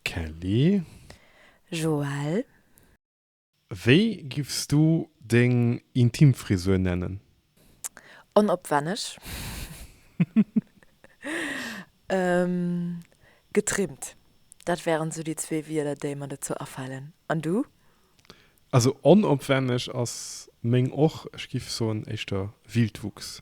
Kelly. Joelle. Wéi giffs du deng intim Frisur nennen? Onopwenneg. Getrimmt. Dat wären sou déi zwee Wieder déi mer dozou afalen. An du? Also onopwenneg ass meng och. Ech giff soen éischter Wildwuchs.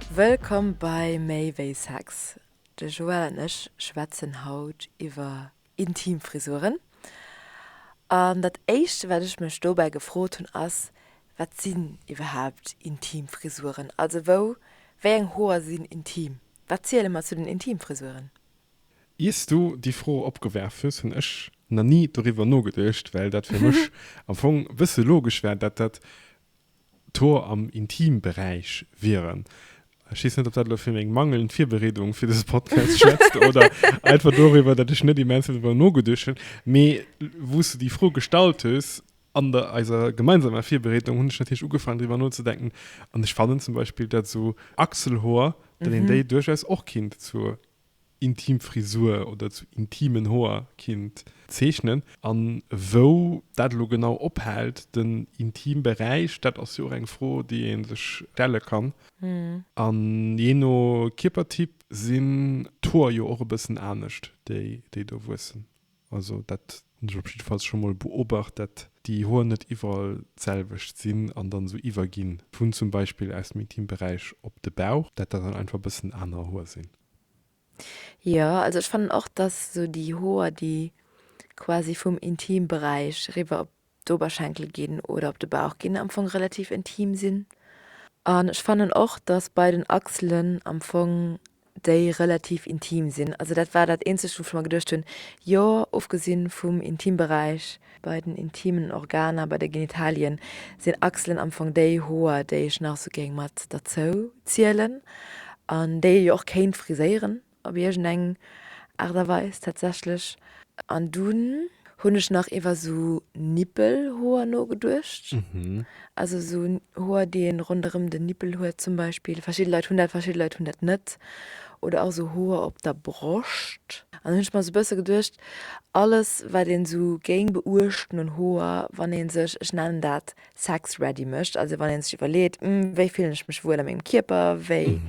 Wëllkomm bei Méi wéi Sex. De Joël an ech schwätzen haut iwwer intim Frisuren. An dat éischt wat ech mech dobäi gefrot hunn ass, wat sinn iwwerhaapt intim Frisuren? Also wou, wéi eng Hoer sinn intim? Wat ziele mer zu den intim Frisuren? Iers du déi Fro opgewerf hues, hunn ech na ni doriwwer nogeduecht, well dat fir mech am Fong bësse logesch war, dat dat d'Hoer am Intimberäich wieren. Ech weess net, ob dat elo fir meng mangelnd Virbereedung fir dëse Podcast schwätzt oder einfach doriwwer, datt ech net immens vill driwwer nogeduecht hunn. Mee wou s de déi Fro gestallt hues, an der eiser gemeinsamer Virbereedung, hunn ech natierlech ugefaangen driwwer nozedenken. An ech fannen zum Beispill, datt esou Achselhoer, datt een déi duerchaus och kinnt zur intim Frisur oder zu intimen Hoer kinnt zeechnen. An wou dat elo genau ophält, den intime Beräich, dat ass jo och eng Fro, déi ee sech stelle kann. An jee no Kierpertyp sinn d'Hoer jo och e bëssen anescht, déi do wuessen. Also dat hunn ech op jidde Falls scho mol beobacht, dat déi Hoer net iwwerall d'selwecht sinn an dann esou iwwerginn, vun zum Beispill aus dem Intimberäich op de Bauch, dat dat dann einfach e bëssen aner Hoer sinn. Jo, also ech fannen och, dass esou déi Hoer, déi quasi vum Intimberäich riwwer op d'Oberschenkel ginn oder op de Bauch ginn am Fong relativ intim sinn. An ech fannen och, dass bei den Achselen am Fong déi relativ intim sinn. Also dat war dat eenzegt, wou ech mer geduecht hunn, jo, ofgesinn vum Intimberäich, bei den intimen Organer, bei de Genitalien, sinn Achselen am Fong déi Hoer, déi ech nach sou géing mat derzou zielen an déi ee jo och kéint friséieren. op iergend eng Aart a Weis tatsächlech. An dunn hunn ech nach iwwer esou Nippelhoer nogeduecht, also esou Hoer, déi ee ronderëm den Nippel huet zum Beispill. Verschidde Leit hunn dat, verschidde Leit hunn dat net. Oder och esou Hoer op der Broscht. An dunn hunn ech mer esou e bësse geduecht, alles, wat een esou géing beuechten un Hoer, wann ee sech, ech nennen dat, sex-ready mécht, also wann ee sech iwwerleet, Wéi fillen ech mech wuel a mengem Kierper? Wéi.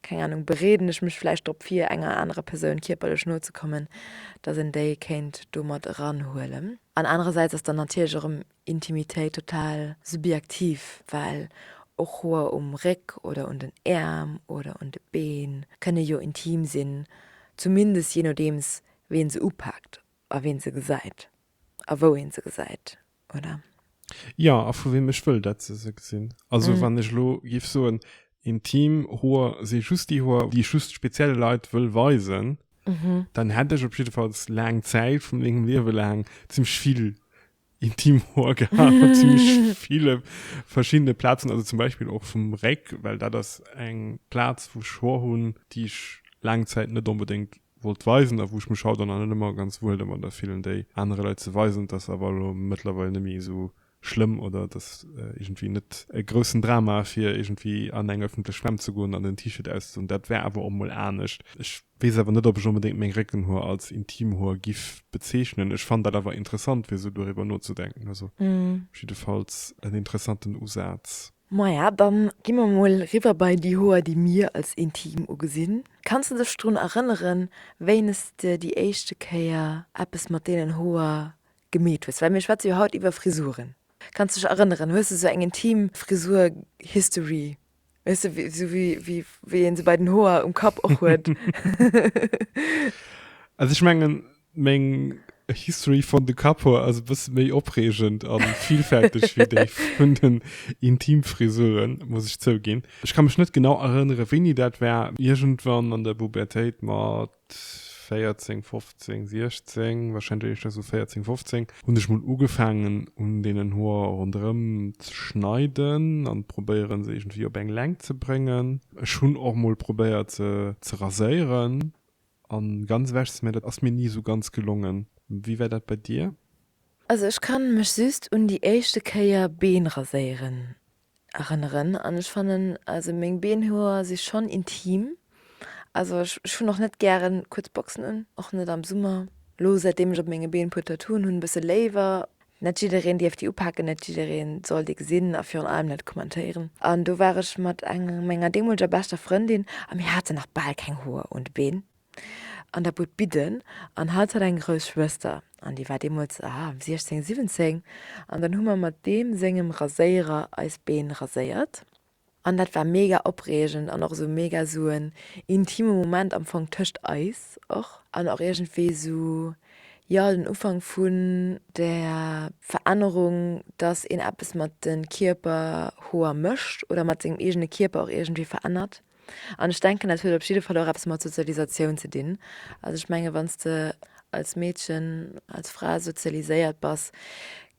keng Ahnung, bereeden ech mech vläicht drop vir, enger anerer Persoun kierperlech no ze kommen, dass een déi kéint do mat eranhuelen. An anerersäits ass dann natierlech erëm Intimitéit total subjektiv, well och Hoer um Réck oder un den Äerm oder un de Been kënne jo intim sinn, zumindest jee nodeems ween se upaakt a ween se gesäit a wou een se gesäit. oder? Jo, a vu weem ech wëll, datt se se gesinn. Also wann ech elo géif soen, intim Hoer si just déi Hoer, déi ech just spezielle Leit wëll weisen, dann hätt ech op jiddefalls laang Zäit vu mengem Liewe laang zimmlech vill intim Hoer gehat, op zimmlech ville verschiddene Plazen, also zum Beispill och vum Réck, well dat ass eng Plaz, wou ech Hoer hunn, déi ech laang Zäit net onbedéngt wollt weisen a wou ech mech haut an allen ëmmer ganz wuel domadder fillen, déi anere Leit ze weisen, dass awer elo mëttlerweil net méi esou schlëmm oder dass iergendwéi net e groussen Drama fir iergendwéi an eng ëffentlech Schwämm ze goen an den T-Shirt auszedoen. Dat war awer och emol anescht. Ech weess awer net, ob ech onbedéngt meng Réckenhoer als Intimhoer giff bezeechnen. Ech fannt dat awer interessant, fir esou doriwwer nozedenken. Also jiddefalls en interessanten Usaz. Maja, dann gi mer mol riwwer bei déi Hoer, déi mir als intim ugesinn. Kanns de dech drun erënneren, wéines de déi éischte Kéier eppes mat deenen Hoer gemeet hues? Well mir schwätze jo haut iwwer Frisuren. Kanns de dech erënneren? Hues de sou eng intim Frisuer-History? Weess de, sou wéi ee se bei den Hoer um Kapp och huet? Also ech mengen, Meng History von de Kapoor ass e bësse méi opreegend a villfälteg wéi déi vun den Intimfrisuren, muss ech zouginn. Ech ka mech net genau erënnere wéini dat war, iergendwann an der Bubertéit mat 14, 15, 16, warscheinlech éischter esou 14, 15, hunn ech mol ugefaangen un deenen Hoer ronderëm ze schneiden an probéieren se iergendwéi op eng Längt ze bréngen. Ech hunn och mol probéiert se ze raséieren, An ganz ewech ze mir, dat ass mir ni esou ganz gelongen. Wéi war dat bei dir? Also ech kann mech just un déi éischte Kéier Been raséieren erënneren an ech fannen also meng Beenhoer si schonn intim. Also ech hunn och net gären kuerz Boxen un, och net am Summer. Lo säitdeem ech op menge Been e puer Tattooen hunn, e bësse léiwer. Net jiddereen dierf déi upaken, net jiddereen soll déi gesinn a virun allem net kommentéieren. An do war ech mat enger menger deemoleger beschter Frëndin a mir hate nach bal keng Hoer un de Been an der Bud bidden an hatt hat eng grouss Schwëster an déi war deemools, ah, 16, 17 an dann hu mer mat deem sengem Raséierer eis Been raséiert. An dat war mega opreegend an och esou mega esou en intime Moment am Fong tëscht eis och. An och iergendwéi esou, jo, den Ufank vun der Verännerung, dass een eppes mat de Kierperhoer mécht oder mat sengem eegene Kierper och iergendwéi verännert. An ech denken, dat huet op jidde Fall och eppes mat Sozialisatioun ze dinn. Also ech menge wann s de als Meedchen, als Fra sozialiséiert bass,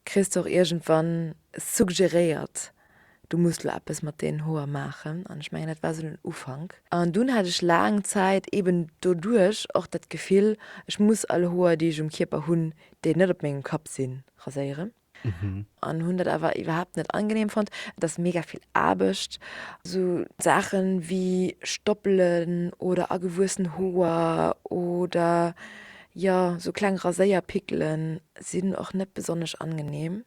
kriss de och iergendwann suggeréiert, du muss lo eppes mat den Hoer maachen. An ech mengen dat war sou den Ufank. An dunn hat ech laang Zäit eben doduerch och dat Gefill, ech muss all Hoer déi ech um Kierper hunn, déi net op mengem Kapp sinn, raséieren. An hunn dat awer iwwerhaapt net angenehm fonnt. Et ass mega vill Aarbecht. Sou Saachen wéi Stoppelen oder agewuessen Hoer oder jo sou kleng Raséierpickelen sinn och net besonnesch angenehm.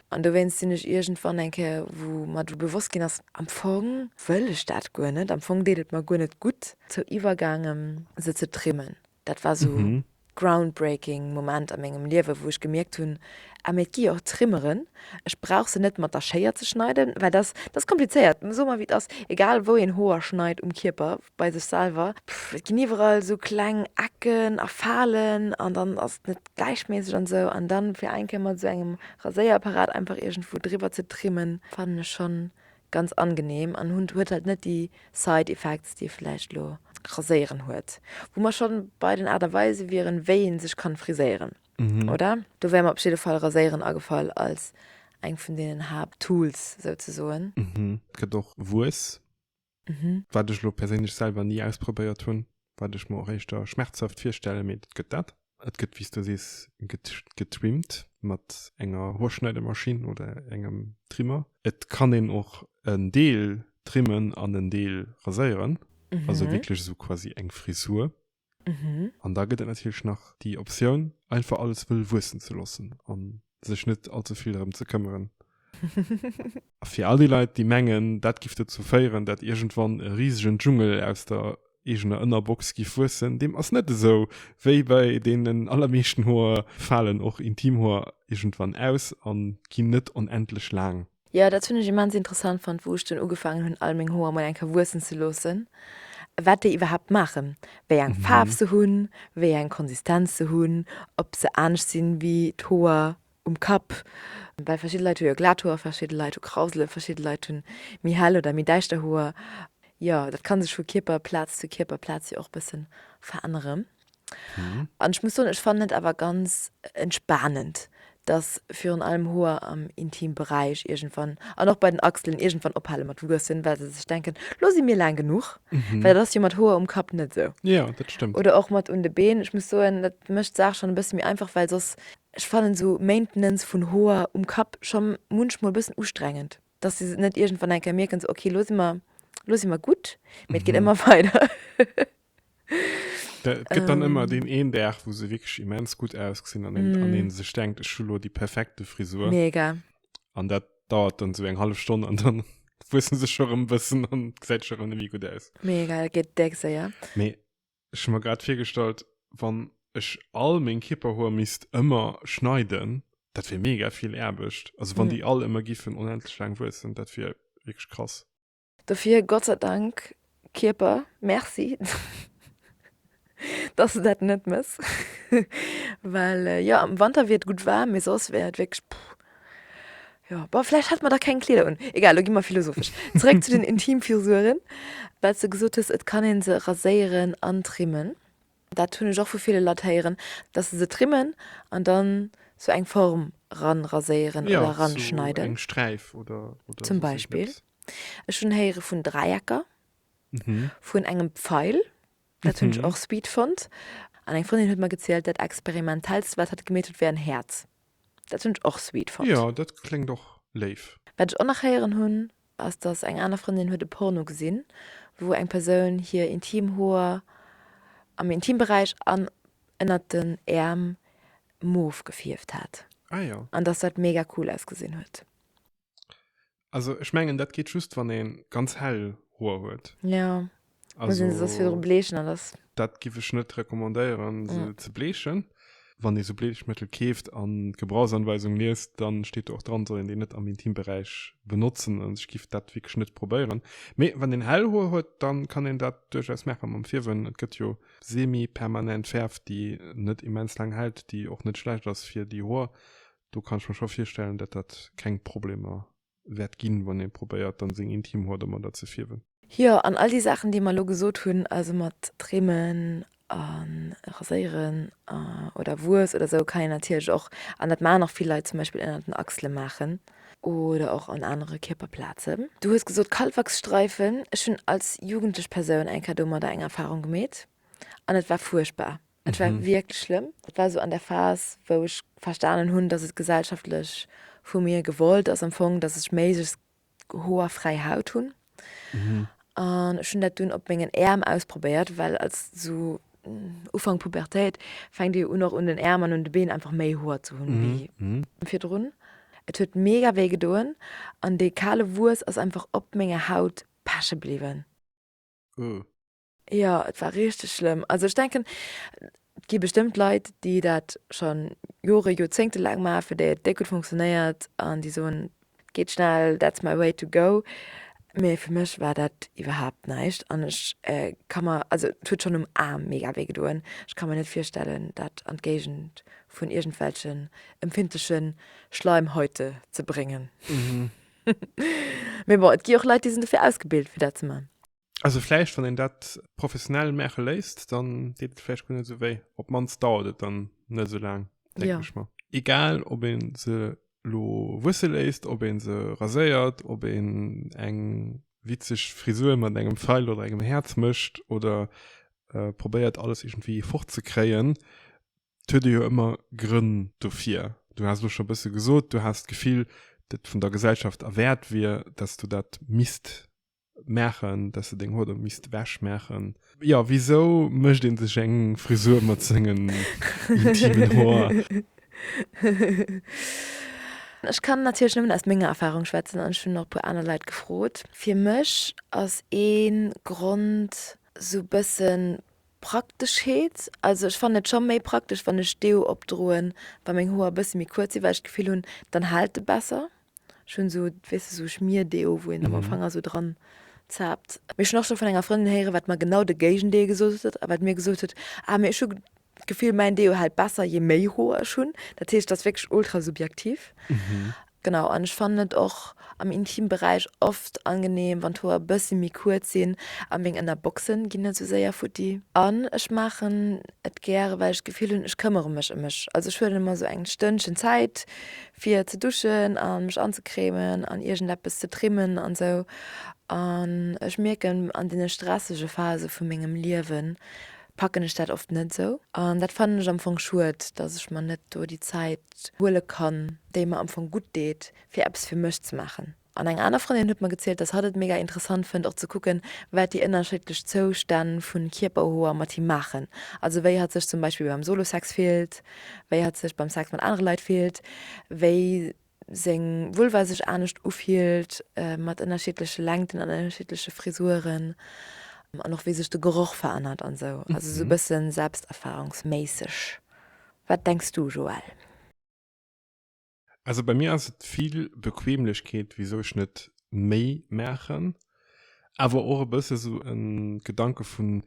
An dowéinst sinn ech iergendwann eng Kéier, wou mer do bewosst ginn ass, am Fong wëll ech dat guer net, am Fong deet et mer guer net gutt, zou iwwergaangen, se ze trimmen. Dat war esou groundbreaking Moment a mengem Liewe, wou ech gemierkt hunn, ah mee et gi jo och Trimmeren, ech brauch se net mat der Schéier ze schneiden, well dat ass komplizéiert. Soe mer wéi et ass, egal wou een Hoer schneit um Kierper, bei sech selwer, et ginn iwwerall esou kleng Ecken a Falen an dann ass et net gläichmässig an sou an dann fir eng Kéier mat sou engem Raséierapparat einfach iergendwou driwwer ze trimmen fannen ech schon ganz angenehm an hun huet halt net déi side effects déi vielleicht lo Raséieren huet. Wou mer schon bei den Art a Weise wieren wéi een sech kann friséieren oder? Do wär mer op jidde Fall Raséieren agefall als eng vun deenen Haapt Tools souzesoen. Gëtt och Wuess. Wat ech elo perséinlech selwer ni ausprobéiert hunn, wat ech mer och éischter schmerzhaft virstellen, mee et gëtt dat. Et gëtt, wéi s du sees, getrimmt mat enger Hoerschneidemaschinn oder engem Trimmer. Et kann een och en Deel trimmen an en Deel raséieren, also wierklech esou quasi eng Frisur. Mhm. An da gëtt et natierlech nach déi Optioun, einfach alles wëll wuessen ze loossen a sech net allze vill drëm ze këmmeren. A fir all déi Leit, déi mengen, dat giff dozou féieren, datt iergendwann e risegen Dschungel aus der eegener Ënnerbox giff wuessen, deem ass net esou. Wéi bei deenen allermeeschten Hoer falen och Intimhoer iergendwann aus a ginn net onendlech laang. Jo, dat hunn ech immens interessant fonnt, wou ech dunn ugefaangen hunn, all meng Hoer mol eng Kéier wuessen ze loossen, wat déi iwwerhaapt maachen, wéi eng Faarf se hunn, wéi eng Konsistenz se hunn, ob se anescht sinn, wéi d'Hoer um Kapp, well verschidde Leit hu jo glat Hoer, verschidde Leit hu Krausele, verschidde Leit hunn méi hell oder méi däischter Hoer. Jo, dat ka sech vu Kierperplaz zu Kierperplaz jo och bëssen veränneren. An ech muss soen, ech fannen et awer ganz entspanend, dass virun allem Hoer am Intimberäich iergendwann, an och bei den Achselen, iergendwann ophale mat wuessen, well se sech denken, Lo si mir laang genuch. Well dat ass jo mat Hoer um Kapp net esou. Jo, dat stëmmt. Oder och mat un de Been. Ech muss soen, dat mécht d'Saach schonn e bësse méi einfach, well soss, ech fannen esou Maintenance vun Hoer um Kapp scho munchmol e bëssen ustrengend, dass se net iergendwann eng Kéier mierken, sou, Okay, lo si mer, lo si mer gutt, mee et geet ëmmer weider. Da gëtt dann ëmmer ähm, den een Dag, wou se wirklich immens gut ausgesinn an een, an mm. een sech denkt, ech hu lo déi perfekte Frisur. Mega. An dat dauert dann so eng halbe Stonn an dann wuessen se schon rëm bëssen an gesäit schon rëm wie gut aus. Mega, dat gëtt deck séier. Mee ech hu mer grad virgestallt, wann ech all meng Kipperhoer misst ëmmer schneiden, dat wier mega vill Aarbecht. Also wann mm. déi all ëmmer giffen onendlech laang wuessen, dat wier wirklich krass. Dofir Gott sei Dank Kierper, Merci dass de dat net mëss well jo am Wanter wier et gutt waarm, mee soss wär et wierklech puh. Jo bon vläicht hätt mer da keng Kleeder un. Egal lo gi mer philosophesch. Zeréck zu den Intimfisuren, well s de gesot hues et kann ee se raséieren an trimmen. Dat hunn ech och vu ville Leit héieren, dass se se trimmen an dann sou eng Form ran raséieren oder ran schneiden. Zum Beispill. Ech hunn héiere vun Dräiecker, vun engem Pfeil, dat hunn ech och sweet fonnt. An eng Frëndin huet mer gezielt, dat experimentellst, wat hatt gemeet huet, wär en Häerz. Dat hunn ech och sweet fonnt. Jo, dat kléngt och léif. Wat ech och nach héieren hunn, ass, dass eng aner Frëndin huet e Porno gesinn, wou eng Persoun hir intim Hoer am Intimberäich an ënnert den Äerm mauve gefierft hat. Ah jo. An dass dat mega cool ausgesinn huet. also ech mengen dat geet just wann een ganz hell Hoer huet. Ja, muss een se soss wieder also bleechen an dass. dat giff ech net recommandéieren se Ja. ze bleechen. Wann ee sou Bleechmëttel keeft an d'Gebrauchsanweisung liest, dann steet do och dran soll een déi net am Intimberäich benotzen an ech giff dat wierklech net probéieren. Mee wann een hell Hoer huet, dann kann een dat duerchaus maache mam Fierwen. Et gëtt jo semi-permanent Fäerf déi net immens laang hält, déi och net schlecht ass fir déi Hoer Do kann ech mer scho virstellen, datt dat keng Problemer wäert ginn, wann ee probéiert, dann seng intim Hoer domadder ze fierwen. Jo, an all déi Saachen, déi mer elo gesot hunn, also mat trimmen a raséieren oder Wues oder esou, kann een natierlech och, an dat maachen och vill Leit, zum Beispill ënner den Achsele maachen oder och an anere Kierperplazen. Du hues gesot Kalwachsstreifen. Ech hunn als jugendlech Persoun eng Kéier domadder eng Erfarung gemeet an et war fuerchtbar. Et war wierklech schlëmm. Dat war esou an der Phas, wou ech verstanen hunn, dass et gesellschaftlech vu mir gewollt ass am Fong, dass ech méiglechst hoerfräi Haut hunn. An ech hunn dat dunn op mengen Äerm ausprobéiert, well als esou Ufank Pubertéit fänkt ee jo un, och un den Äerm an un de Been einfach méi Hoer ze hunn wéi virdrun. Et huet mega wéi gedoen an dee kale Wuess ass einfach op menger Haut peche bliwwen. Uhh. Jo, et war richteg schlëmm. Also ech denken, et gi bestëmmt Leit, déi dat scho Jore, Joerzéngte laang maachen, fir déi et déck gutt funktionéiert an déi soen, et geet schnell, that's my way to go. Mee fir mech war dat iwwerhaapt näischt an ech ka mer, also et huet schonn um Aarm mega wéi gedoen, ech ka mer net virstellen, dat an d'Géigend vun iergendwelchen empfindleche Schleimhäute ze bréngen. Mee bon, et gi och Leit, déi sinn dofir ausgebilt, fir dat ze maachen. Also vläicht wann een dat professionell maache léisst, dann deet et vläicht guer net esou wéi. Op d'mannst dauert et dann net esou laang, denken Ja. ech mer. Egal ob een se lo wusse léisst, ob een se raséiert, ob een eng witzeg Frisur mat engem Feil oder engem Häerz mécht oder probéiert alles iergendwéi fort ze kréien, et huet ee jo ëmmer Grënn dofir. Du has elo scho e bësse gesot, du has d'Gefill, datt et vun der Gesellschaft erwäert wier, datt s du dat misst machen dass du deng Hoder misst wäsch machen ja wieso mecht den sech eng Frisur mat sengen Ech kann natierlech nëmmen aus menger Erfahrung schwätzen an schon nach puer aner Leiit gefrot fir mech ass een Grond sou bëssen Prakteschheet also ech fannen et scho méi praktesch wann ech Deo opdroen wann meng Hoer bësse méi kuerz si well ech d'Gefill hunn dann haalt de besser. Ech hunn esou, weess de, esou Schmierdeo, wou een am Ufank esou dran zaapt. Mee ech hunn och scho vun enger Frëndin héieren, wat mer genau de Géigendeel gesot huet a wat mir gesot huet, ah, mee ech hu d'Gefill, mäin Deo hält besser, jee méi Hoer ech hunn. Dat heescht, et ass wierklech ultra subjektiv. Genau, an ech fannen et och am Intimberäich oft angenehm, wann d'Hoer e bëssi méi kuerz sinn a meng Ënnerboxe ginn net esou séier futti. An ech maachen et gäre, well ech d'Gefill hunn, ech këmmere mech ëm mech. Also ech huelen mer esou eng Stënnchen Zäit fir ze duschen an mech anzecremen an iergendeppes ze trimmen an sou an ech mierken an deene stressege Phase vu mengem Liewen packen ech dat oft net sou an dat fannen ech am Fong schued dass ech mer net do déi Zäit huele kann déi mer am Fong gutt deet fir eppes fir mech ze maachen. An eng aner Frëndin huet mer gezielt, dass hatt et mega interessant fënnt och ze kucken, wat déi ënnerscheedlech Zoustänn vu Kierperhoer mat him maachen. Also wéi hatt sech zum Beispill beim Solo-Sex fillt, wéi hatt sech beim Sex mat anere Leit fillt, wéi seng Vulva sech anescht ufillt mat ënnerschiedleche Längten an ënnerschiedleche Frisuren an och wéi sech de Geroch verännert an esou. Also esou e bësse selbsterfahrungsméisseg. Wat denks du Joëlle? Also bei mir ass et vill Bequemlechkeet wisou ech net méi maachen, awer och e bësse sou e Gedanke vun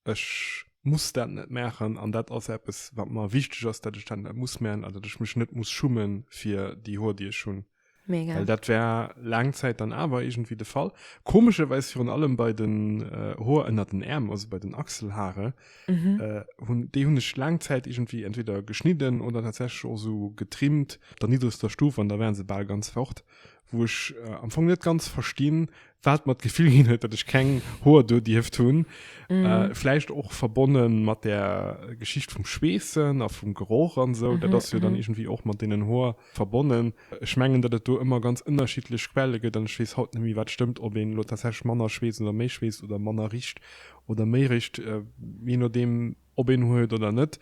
ech muss dat net maachen an dat ass eppes wat mer wichteg ass, dat ech dat net muss maachen an dat ech mech net muss schumme fir déi Hoer déi ech hunn. Mega. Well dat war laang Zäit dann awer iergendwéi de Fall. Komescherwäis virun allem bei den Hoer ënner den Äerm, also bei den Achselhare, Mhm. Äh, hun, déi hunn ech lang Zäit irgendwie entweder geschnidden oder tatsächlich och so getrimmt, der niedrigster Stufe an da wären se bal ganz fort, wo ech äh, am Fong net ganz verstinn, wat mat Gefill ginn huet, dat ech keng Hoer do dierft hunn. Mhm. Äh, vielleicht och verbonnen mat der Geschicht vum Schweessen a vum Geroch an so, mhm. dat ass jo dann mhm. irgendwie och mat denen Hoer verbonnen. Ech mengen, dat et do immer ganz ënnerschiedlech Quelle gëtt an ech wees haut nemi wat stëmmt, ob een lo tatsächlich manner schwees oder méi schwees oder manner richt oder méi réischt, jee nodeem ob een huet oder net.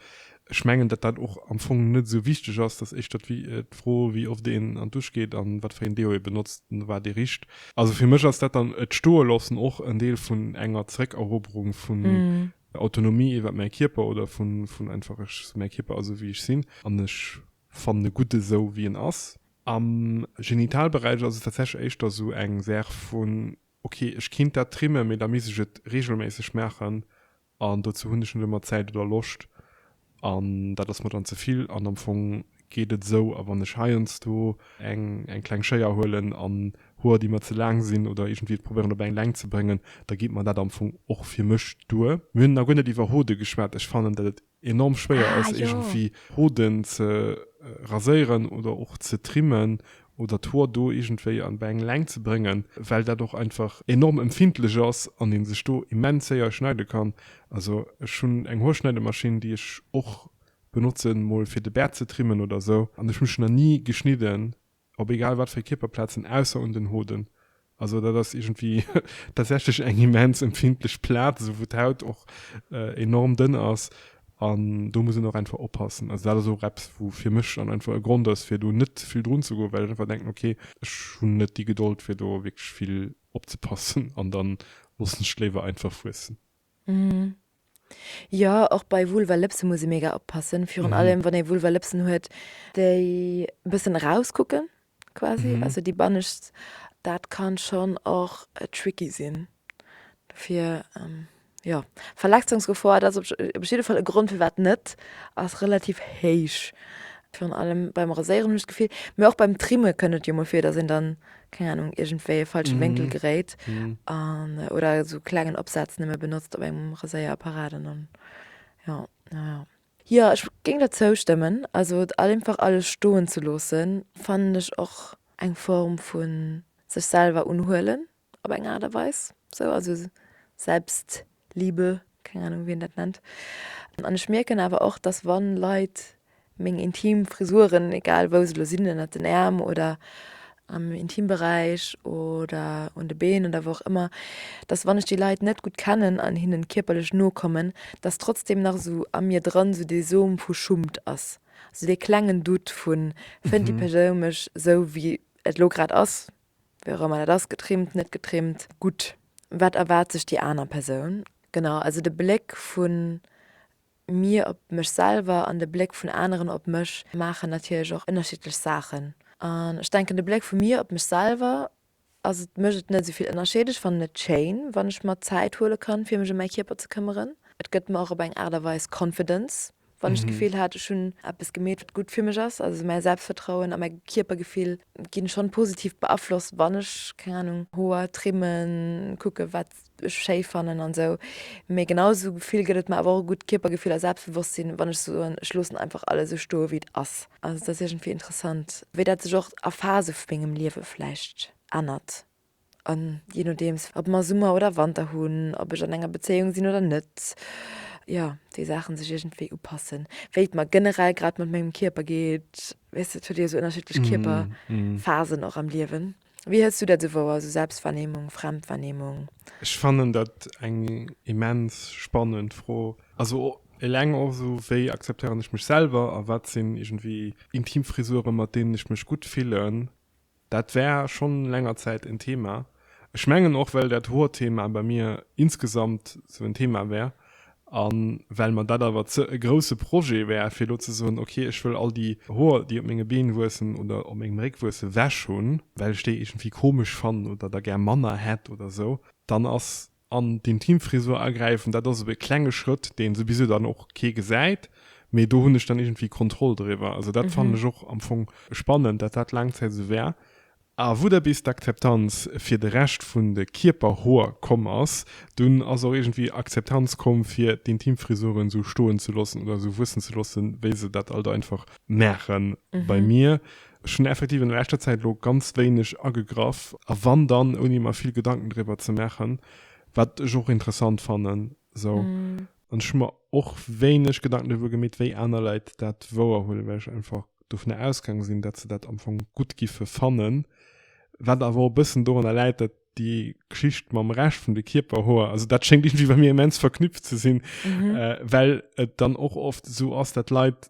Ech mengen, datt dat och am Fong net esou wichteg ass, datt éischter d'Fro wéi oft een an d'Dusch geet an wat fir een Deo ee benotzt an wat ee richt. Also fir mech ass dat dann et stoe loossen och en Deel vun enger Zeréckeroberung vun Autonomie iwwert mäi Kierper oder vun einfach ech mäi Kierper ass esou wéi ech sinn an ech fannen e gutt esou wéi en ass. Am Genitalberäich ass et tatsächlech éischter esou eng Saach vun Ok ech kinnt dat trimmen mee da misst ech et regelméisseg maachen an dozou hunn ech net ëmmer Zäit oder Loscht an dat ass mer dann zevill an am Fong geet et esou a wann ech heiansdo eng eng kleng Schéier huelen an Hoer déi mer ze laang sinn oder iergendwéi et probéieren op eng Längt ze bréngen da geet mer dat am Fong och fir mech duer. Mir hunn nach guer net iwwer Hode geschwat, ech fannen dat et enorm schwéier ass iergendwéi Hoden ze raséieren oder och ze trimmen oder d'Hoer do iergendwéi an bei eng Längt ze bréngen, well dat och einfach enorm empfindlech ass an ee sech do immens séier schneide kann. Also ech hunn eng Hoerschneidemaschinn, déi ech och benotzen, mol fir de Bäert ze trimmen oder esou, an ech hu mech nach ni geschnidden. op egal wat fir Kierperplazen, ausser un den Hoden. Also dat ass iergendwéi tatsächlech eng immens empfindlech Plaz, esou wou d'Haut och enorm dënn ass an do muss een och einfach oppassen. Also dat ass och eppes, wou fir mech dann einfach e Grond ass, fir do net vill drun ze goen, well ech einfach denken, okay, ech hunn net déi Gedold, fir do wierklech vill opzepassen an dann loossen ech et léiwer einfach wuessen. Jo, och bei Vulva Lëpsen muss ee mega oppassen. Virun allem, wann ee Vulva Lëpsen huet, déi e bëssen erauskucken, quasi, also déi bannescht, dat kann schonn och tricky sinn. Dofir, jo, Verletzungsgefor, dat ass op jidde Fall e Grond firwat net, ass relativ héich. Virun allem beim Raséieren, hunn ech d'Gefill. Mee och beim Trimme kënnt et jo mol vir, dass een dann keng Ahnung, iergendwéi e falsche Wénkel geréit an, oder esou e klengen Opsaz nëmme benotzt op engem Raséierapparat an dann, jo, jo, jo. Jo, ech géing der zoustëmmen. Also et einfach alles stoen ze loosse fannen ech och eng Form vu sech selwer unhuelen op eng Aart a Weis, sou, also Selbst, Liebe, keng Ahnung wien dat nennt. An ech mierken awer och, dass wann Leit meng intim Frisuren, egal wou se lo sinn, ënnert den Äerm oder am Intimberäich oder un de Been oder wou och ëmmer, dass wann ech déi Leit net gutt kennen an hinnen kierperlech no kommen, dass trotzdem nach esou a mir dran esou dee Som vu Schummt ass, esou dee klengen Doute vun, fënnt déi Persoun mech esou wéi et lo grad ass, Wéi och ëmmer dat ass, getrimmt, net getrimmt. Gutt, wat erwaart sech déi aner Persoun? Genau, also de Bléck vu mir op mech selwer an de Bléck vun aneren op mech maachen natierlech och ënnerschiddlech Saachen. An ech denken de Bléck vu mir op mech selwer ass, et mécht et net esou vill Ënnerscheed. Ech fannen et schéin, wann ech mer Zäit huele kann, fir mech ëm mäi Kierper ze këmmeren. Et gëtt mer och op eng Aart a Weis Confidence, Wann ech d'Gefill hat, ech hunn eppes gemeet, wat gutt fir mech ass, also mäi Selbstvertrauen a mäi Kierpergefill ginn schonn positiv beaflosst, wann ech, keng Anung, Hoer trimmen, kucken, wat ech schéi fannen an esou. Mee genau esou Gefill gëtt et mer awer och e gutt Kierpergefill a Selbstbewosstsinn, wann ech soen, ech loossen einfach alles esou stoe wéi et ass. Also et ass iergendwéi interessant, wéi dat sech och a Phase vu mengem Liewe vläicht ännert, An je nodeems, ob mer Summer oder Wanter hunn, ob ech an enger Bezéiung sinn oder net, jo, déi Saachen sech iergendwéi upassen, wéi et mer generell grad mat mengem Kierper geet. Weess de, et huet jo esou ënnerschiddlech Kierperphasen och am Liewen. Wéi hëls du dat esou wouer, esou Selbstwahrnehmung, Fremdwahrnehmung? Ech fannen dat eng immens spannend Fro. Also eleng och esou, wéi akzeptéieren ech mech selwer a wat sinn iergendwéi intim Frisuren, mat deenen ech mech gutt fillen? Dat war schonn länger Zäit en Thema. Ech mengen och well dat Hoerthema bei mir insgesamt sou en Thema war a well mer dat awer ze e grousse Projet war fir elo ze soen, ok ech wëll all déi Hoer déi op menge Been wuessen oder op mengem Réck wuesse ewech hunn, well ech déi iergendwéi komesch fannen oder der gär manner hätt oder sou, dann ass an d'Intimfrisur agräifen, dat ass esou e klenge Schrëtt, deen souwisou dann och kee gesäit, mee do hunn ech dann iergendwéi Kontroll driwwer. Also dat fannen ech och am Fong spannend, dat dat laang Zäit esou war. A wou da bis d'Akzeptanz fir de Rescht vun de Kierperhoer komm ass, dunn ass och iergendwéi Akzeptanz komm fir d'Intimfrisuren esou stoen ze loossen oder esou wuessen ze loossen, wéi se dat alt einfach maachen. Bei mir Ech hunn effektiv an der leschter Zäit elo ganz wéineg agegraff, a wann dann ouni mer vill Gedanken driwwer ze maachen, wat ech och interessant fannen esou. An ech hu mer och wéineg Gedanken driwwer gemeet, wéi aner Leit dat wouerhuelen, well ech einfach dovun ausgaange sinn, datt se dat am Fong gutt giffe fannen, wat awer och e bëssen dorunner läit, datt déi Geschicht mam Rescht vun de Kierperhoer, also dat schéngt iergendwéi bei mir immens verknüpft ze sinn, well et dann och oft esou ass, datt Leit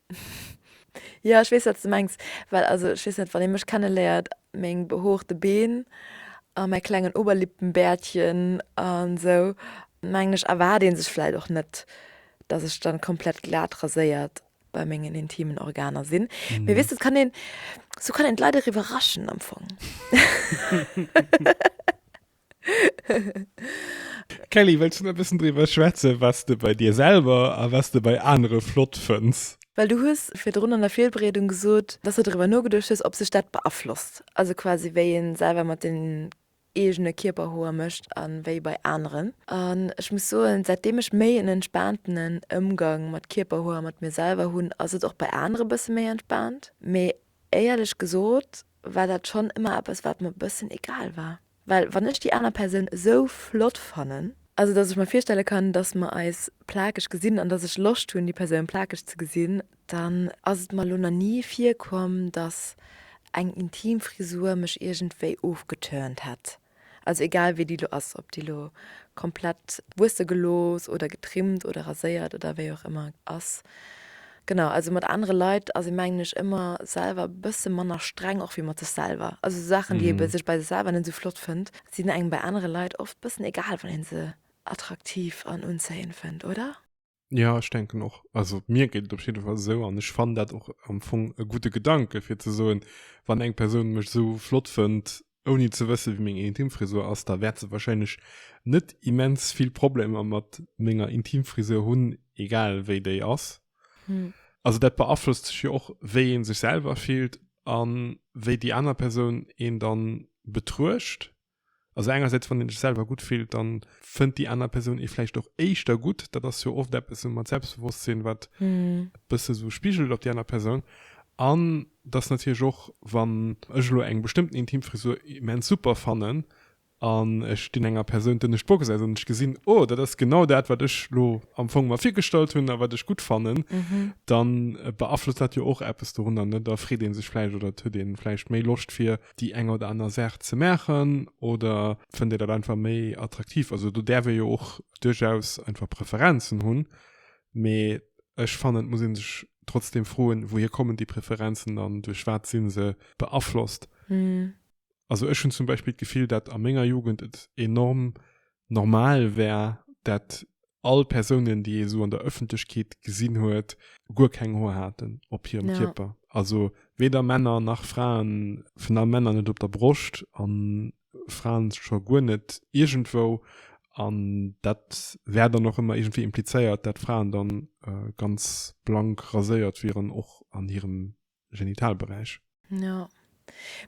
Jo ech weess wat de mengs, well also ech weess net wann ee mech kenne léiert, meng behoorte Been a mäi klengen Oberlippenbärtchen an esou mengen ech erwaart ee sech vläit och net dat ech dann komplett glat raséiert bei mengen intimen Organer sinn, mee weess et kann een esou kann een d'Leit och iwwerraschen am Fong. Kelly, wëlls du nach e bëssen driwwer schwätzen, wat s de bei dir selwer a wat s de bei anere flott fënns? Well du hues virdrun an der Virbereedung gesot, dass de driwwer nogeduecht hues, ob sech dat beaflosst, also quasi wéi ee selwer mat den eegene Kierperhoer mécht a wéi bei aneren. An ech muss soen, säitdeem ech méi en entspaantenen Ëmgang mat Kierperhoer a mat mir selwer hunn, ass et och bei anere bësse méi entspaant. Mee éierlech gesot, war dat schonn ëmmer eppes, wat mer e bëssen egal war. Well wann ech déi aner Persoun esou flott fannen, also datt ech mer virstelle kann, datt mer eis plakeg gesinn an datt ech Loscht hunn, déi Persoun plakeg ze gesinn, dann ass et mer elo nach ni virkomm, datt eng intim Frisur mech iergendwéi ofgeturnt hätt. Also egal wéi déi lo ass, ob déi lo komplett wuesse gelooss oder getrimmt oder raséiert oder wéi och ëmmer ass. Genau, also mat anere Leit ass ee mengen ech ëmmer selwer e bësse manner streng och wéi mat sech selwer. Also esou Saachen, déi ee sech bei sech selwer net esou flott fënnt, sinn engem bei anere Leit oft e bëssen egal, wann ee se attraktiv an unzéiend fënnt, oder? Ja ech denken och also mir gëtt op jeden Fall sou an ech fan dat och am Fong e gute Gedanke fir ze soen, wann eng Persoun mech sou flott fënnt, ouni ze wësse wéi meng Intimfrisur ass, da wäert se wahrscheinlech net immens vill Problemer mat menger Intimfrisur hunn, egal wéi déi ass. Also dat beaflosst sech jo och wéi ee sech selwer fillt a wéi déi aner Persoun een dann betruecht. Also engersäits wann een sech selwer gutt fillt, dann fënnt déi aner Persoun ee vläicht och éischter gutt. Dat ass jo oft eppes mat Selbstbewosstsinn, wat e bësse sou spigelt op déi aner Persoun. An dass natierlech och, wann ech elo eng bestëmmten Intimfrisur immens super fannen an ech dinn enger Persoun d'ënnescht Bock gesäit an ech gesinn, oh, dat ass genau dat, wat ech elo am Fong mer virgestallt hunn a wat ech gutt fannen, da beaflosst dat jo och eppes dorunner, net? Da freet ee sech vläicht oder et huet ee vläicht méi Loscht fir déi eng oder aner Saach ze maachen oder fënnt Dir dat einfach méi attraktiv? Also do däerf ee jo och duerchaus einfach Preferenzen hunn, mee ech fannen, et muss ee sech trotzdeem froen, wouhier kommen déi Preferenzen an duerch wat si se beaflosst? Also ech hunn zum Beispill d'Gefill, datt a menger Jugend et enorm normal wär, dat all Persounen, déi ee esou an der Ëffentlechkeet gesinn huet, guer keng Hoer haten op hirem Kierper. Also weder Männer nach Fraen, vun allem Männer net op der Broscht a Fraen scho guer net iergendwou. An dat wär dann och ëmmer iergendwéi implizéiert, dat Fraen da ganz blank raséiert wieren, och an hirem Genitalberäich. Jo.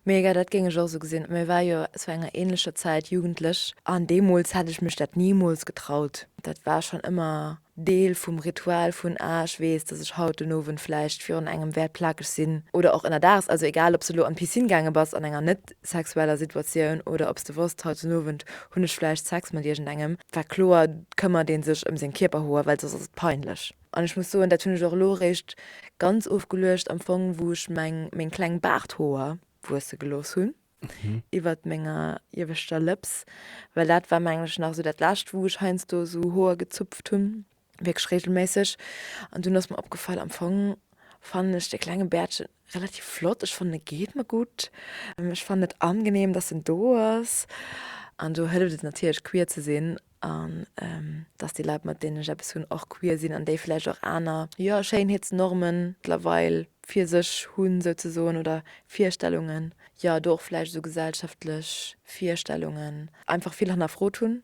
Mega, dat géing ech och esou gesinn. Mä war jo zu enger ähnlecher Zäit Jugendlech an deemools hätt ech mech dat nimools getraut. Dat war schonn ëmmer Deel vum Ritual vun, ah ech weess, dass ech haut den Owend vläicht virun engem wäert plakeg sinn oder och ënnerdags, also egal ob s de elo an d'Piscine gaange bass an enger net sexueller Situatioun oder ob s de wosst, haut den Owend hunn ech vläicht Sex mat iergendengem, war kloer, këmmert ee sech ëm seng Kierperhoer, well soss ass et peinlech. An ech muss soen, dat hunn ech och elo eréischt ganz ofgeluecht empfong, wou ech meng, meng kleng Baarthoer wuesse gelooss hunn iwwert menger ieweschter Lëps, well dat war mengen ech nach esou dat lescht, wou ech heiansdo esou Hoer gezupft hunn, wierklech reegelméisseg. An dunn ass mer opgefall, am Fong fannen ech de klenge Bäertche relativ flott. Ech fannen e geet mer gutt, ech fannen et angenehm, datt en do ass. An do hëlleft et natierlech queer ze sinn an dass déi Leit mat deenen ech eppes hunn och queer sinn an déi vläicht och aner, jo, Schéinheetsnormen mëttlerweil fir sech hunn souzesoen oder Virstellungen, jo, do och vläicht esou gesellschaftlech Virstellungen einfach vill hannerfrot hunn.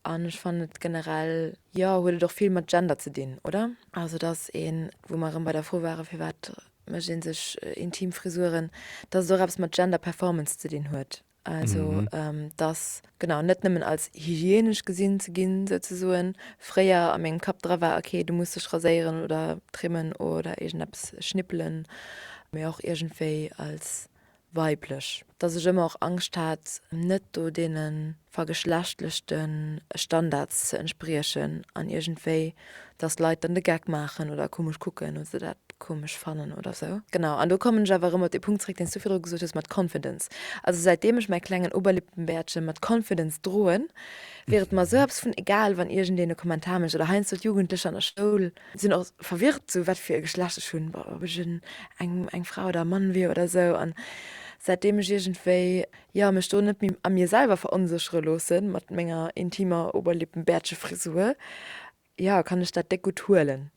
An ech fannen et generell, jo, huet et och vill mat Gender ze dinn, oder? Also dass een, wou mer erëm bei der Fro waren, firwat mécht ee sech intim Frisuren, dass et och eppes mat Gender Performance ze dinn huet. Also dass genau net nëmmen als hygienesch gesinn ze ginn, sou ze soen, fréier a mengem Kapp dra war, okay, du muss dech raséieren oder trimmen oder iergendeppes schnippelen, mee och iergendwéi als weiblech. Dass ech ëmmer och Angscht hat, net do deene vergeschlechtlechte Standards ze entspriechen an iergendwéi dass Leit dann de Geck maachen oder komesch kucken oder se dat komesch fannen oder sou. Genau, an do kommen ech awer erëm op dee Punkt zréck, deen s du viru gesot hues mat Confidence. Also säitdeem ech mäi klengen Oberlippenbärtchen mat Confidence droen, wier et mer sou eppes vun egal, wann iergendeen e Kommentar mécht oder heiansdo d'Jugendlecher an der Schoul, sinn och verwirrt, sou wat fir e Geschlecht ech hunn, ob ech en eng Fra oder e Mann wier oder sou, an säitdeem ech iergendwéi Jo, mech do net méi a mir selwer veronséchere loosse mat menger intimer Oberlippenbärtchefrisur, jo, kann ech dat déck gutt huelen.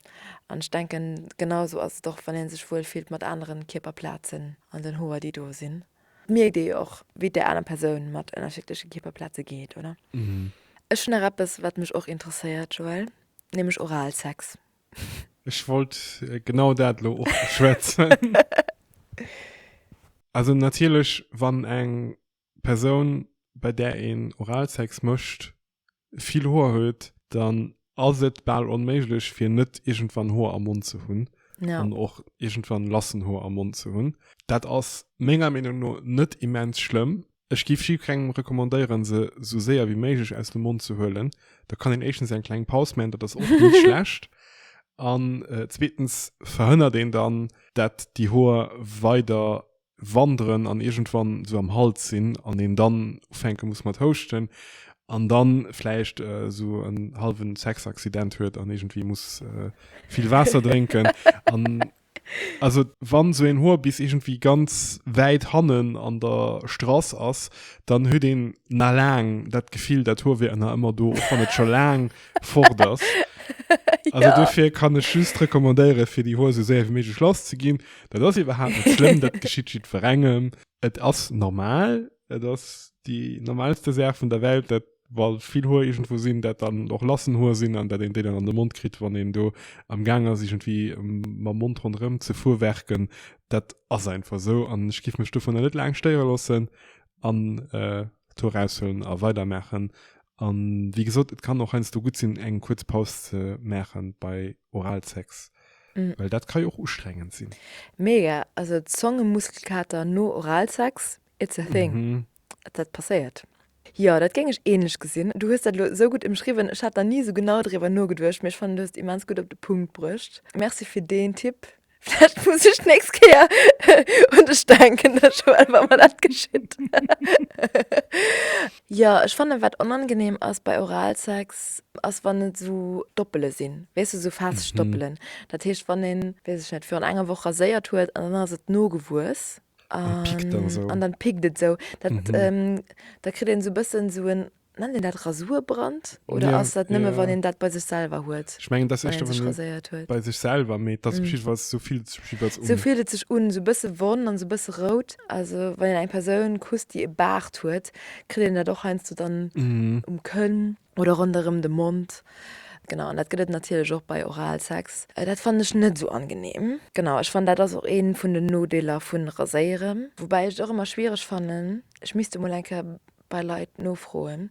An ech denken, genau esou ass et och, wann ee sech wuel fillt mat aneren Kierperplazen an den Hoer, déi do sinn. Et mierkt ee jo och, wéi et där aner Persoun mat ënnerschiddleche Kierperplaze geet, oder? Ech hunn nach eppes, wat mech och interesséiert, Joël, nämlech Oralsex. Ech wollt genau dat lo och beschwätzen. Also natierlech wann eng Persoun bei där een Oralsex mécht vill Hoer huet, dann ass et bal onméiglech fir net iergendwann Hoer am Mond ze hunn an och iergendwann lassen Hoer am Mond ze hunn. Dat ass menger Meenung no net immens schlëmm, Ech giff jiu kengem recommandéieren se sou séier wéi méiglech aus dem Mond ze huelen. Da kann een éischtens eng kleng Paus man, dat ass oft nit schlecht, an zweetens verhënnert een dann dat déi Hoer weider wanderen an iergendwann sou am Hals sin an een dann ufänke muss mat houschten an dann vläicht sou en halwen Sexaccident huet an iergendwéi muss vill Waasser drénken an Also wann sou een Hoer bis iergendwéi ganz wäit hannen an der Strass ass, dann huet een na laang dat Gefill dat Hoer wier na ëmmer do, och wann et scho laang fort ass. Also dofir kann ech just recommandéiere fir déi Hoer sou séier wéi méiglech lass ze ginn. Dat ass iwwerhaapt net schlëmm, dat geschitt jiddwerengem. Et ass normal, et ass déi normaalste Saach vun der Welt dat. well vill Hoer irgendwo sinn, dat dann och lassen Hoer sinn an dat een déi dann an de Mond kritt, wann een do am Gaang ass irgendwie mam Mond ronderëm ze fuerwerken. Dat ass einfach esou an ech giff mech dovunner net laang stéiere loossen an d'Hoer raushuelen a weidermaachen. An wéi gesot, et kann och heiansdo gutt sinn, eng kuerz Paus ze maachen bei Oralsex, well dat ka jo och ustrengend sinn. Mega! Also Zongemuskelkater no Oralsex, it's a thing. Dat passéiert. Jo, dat géing ech ähnlech gesinn. Du hues dat elo esou gutt emschriwwen, ech hat nach ni esou genau driwwer nogeduecht, mee ech fannen du hues et immens gutt op de Punkt bruecht. Merci fir deen Tipp. Vläicht muss ech d'nächst Kéier un dech denken, da schwätze wa mer dat geschitt. Jo, ech fannen wat onangenehm ass bei Oralsex ass wann et esou Doppele sinn, weess du, esou Fetischdoppelen. Dat heescht wann een, weess ech net, virun enger Woch raséiert huet an dann ass et nogewuess. An pickt dann esou. An dann pickt et esou. Dat, da kritt een esou e bëssen esou en, nennt een dat Rasurbrand? Oder ass dat nëmme wann een dat bei sech selwer huet? Ech mengen et ass éischter wann een raséiert huet. Bei sech selwer, mee et ass op jidde Fall, esou fillt et sech op jidde Fall un. Esou fillt et sech un, esou e bësse wonn an esou e bësse rout. Also wann een eng Persoun kusst déi e Baart huet, kritt een dat och heiansdo dann um Kënn. oder ronderëm de Mond. Genau, an dat gëtt et natierlech och bei Oralsex. Dat fannen ech net esou angenehm. Genau, ech fannen dat ass och een vun den Nodeeler vun Raséieren. Woubäi ech et och ëmmer schwiereg fannen, ech misst emol eng Kéier bei Leit nofroen,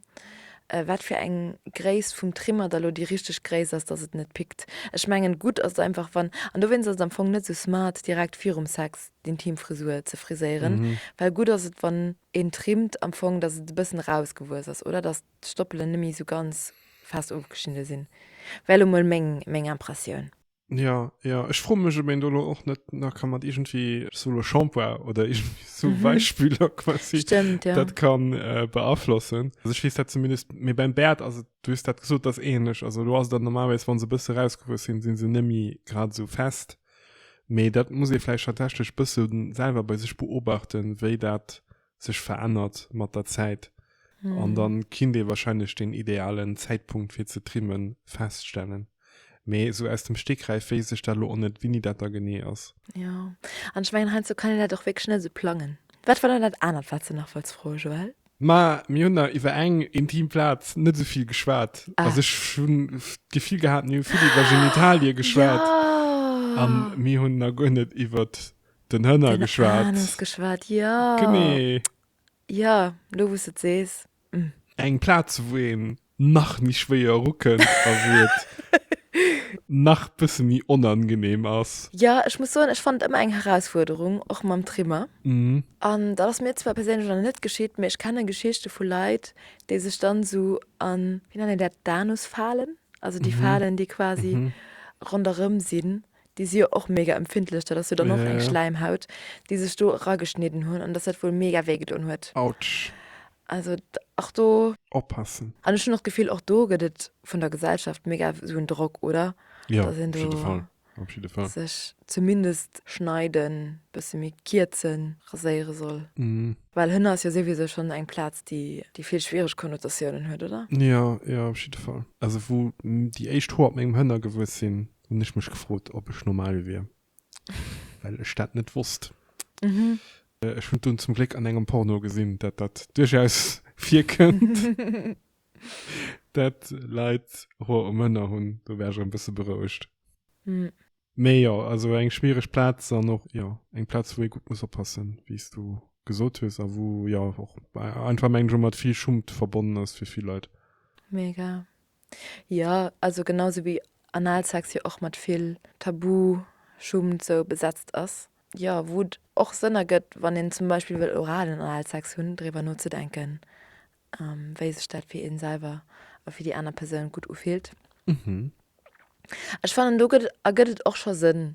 wat fir eng Gréisst vum Trimmer da lo déi richteg Gréisst ass, dass et net pickt. Ech mengen, gutt ass et einfach wann, an dowéinst ass et am Fong net esou smart direkt virum Sex d'Intim Frisur ze friséieren, well gutt ass et wann een trimmt am Fong, dass et e bëssen erausgewuess ass, oder dass. d'Stoppelen net méi sou ganz fest ofgeschnidde sinn, wär elo mol meng meng Impressioun. Jo, jo, ech froe mech, ob een do elo och net nach ka mat iergendwéi, sou elo Shampoing oder iergendwéi sou Weichspüler quasi, Stëmmt, jo. dat ka beaflossen. Also ech weess dat zumindest, mee beim Bäert ass et, du hues dat gesot, ass ähnlech. Also elo ass et dann normalerweis, wa se e bësse erausgewuess sinn, si se net méi grad esou fest, mee dat muss ee vläicht tatsächlech e bësse selwer bei sech beobachten, wéi dat sech verännert mat der Zäit. Mm. An dann kinnt ee wahrscheinlech den idealen Zäitpunkt fir ze trimmen feststellen. Mee esou aus dem Stegreif wéisst ech dat lo och net wéini dat da genee ass. Jo, an ech mengen heiansdo kann een dat och wierklech net esou plangen. Wat war dann dat anert wat s de nach wollts froen, Joël? Ma mir hunn der iwwer eng intim Plaz net esou vill geschwat. Ah. Also ech hunn d'Gefill gehat mir hu vill iwwer Genitalie geschwat. Jo. An mir hunn nach guer net iwwert. Den Hënner geschwat. Den Anis geschwat, ja. Genee. Ja, lo wou s de et sees. Hm. Eng Plaz, wou een nach méi schwéier erukënnt a wou et nach bësse méi onangeneem ass. Ja, ech muss soen, ech fannen et ëmmer eng Herausfuerderung, och mam Trimmer. An dat ass mir zwar perséinlech nach net geschitt, mee ech kenne Geschichte vu Leit, déi sech dann esou an, wéi nennt een dat, d'Anusfalen, also déi Falen, déi quasi ronderëm sinn, Déi si jo och mega empfindlech, dat ass jo dann och eng Schläimhaut, déi sech do erageschnidden hunn, an dass dat wuel mega wéi gedoen huet. Autsch! Also och do. Oppassen. An ech hunn och d'Gefill, och do gëtt et vun der Gesellschaft mega esou en Drock, oder? Jo, op jidde Fall. Op jidde Fall. Dass een do sech zumindest schneiden, e bësse méi kierzen, raséiere soll. Well Hënn ass jo souwisou schonn eng Plaz, déi vill schwiereg Konnotatiounen huet, oder? Jo, jo, op jidde Fall. Also wou déi éischt Hoer op mengem Hënn agewuess sinn, Hun ech mech gefrot op ech normal wier well ech dat net wosst. Ech hun dunn zum Gléck an engem Porno gesin dat dat duerchaus virkënnt dat Leit Hoer um Hënner hun. Do war ech e bësse berouegt. Mee jo also eng schwiereg Platz an och jo eng Platz wou ee gutt muss oppassen wéi's du gesot hues a wou jo och einfach mengen ech mat vill Schummt verbonnen ass fir vill Leit. Mega. Jo, also genau sou wéi anal Sex jo och mat vill Tabu, Schummt sou besetzt ass. Jo, wou et och Sënn ergëtt, wann een zum Beispill wëll oralen Analsex hunn, driwwer nozedenken, wéi sech dat fir ee selwer a fir déi aner Persoun gutt ufillt. Ech fannen do gëtt ergëtt et och scho Sënn,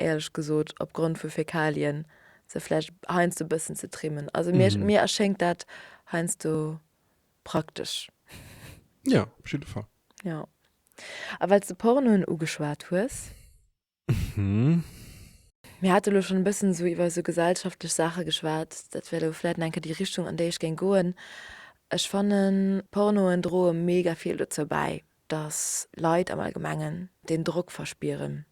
éierlech gesot, opgrond vu Fäkalien se vläicht heiansdo e bëssen ze trimmen. Also mir erschéngt dat heiansdo Praktesch. Ja, op jidde Fall. Jo. A well s de Pornoen ugeschwat hues. Mhm. Mir hate lo schonn e bëssen esou iwwer esou gesellschaftlech Saache geschwat. Dat wär lo vläicht nach eng Kéier déi Richtung, an déi ech géing goen. Ech fannen, Pornoen droe mega vill dozou bäi, Dass Leit am Allgemengen deen Drock verspieren,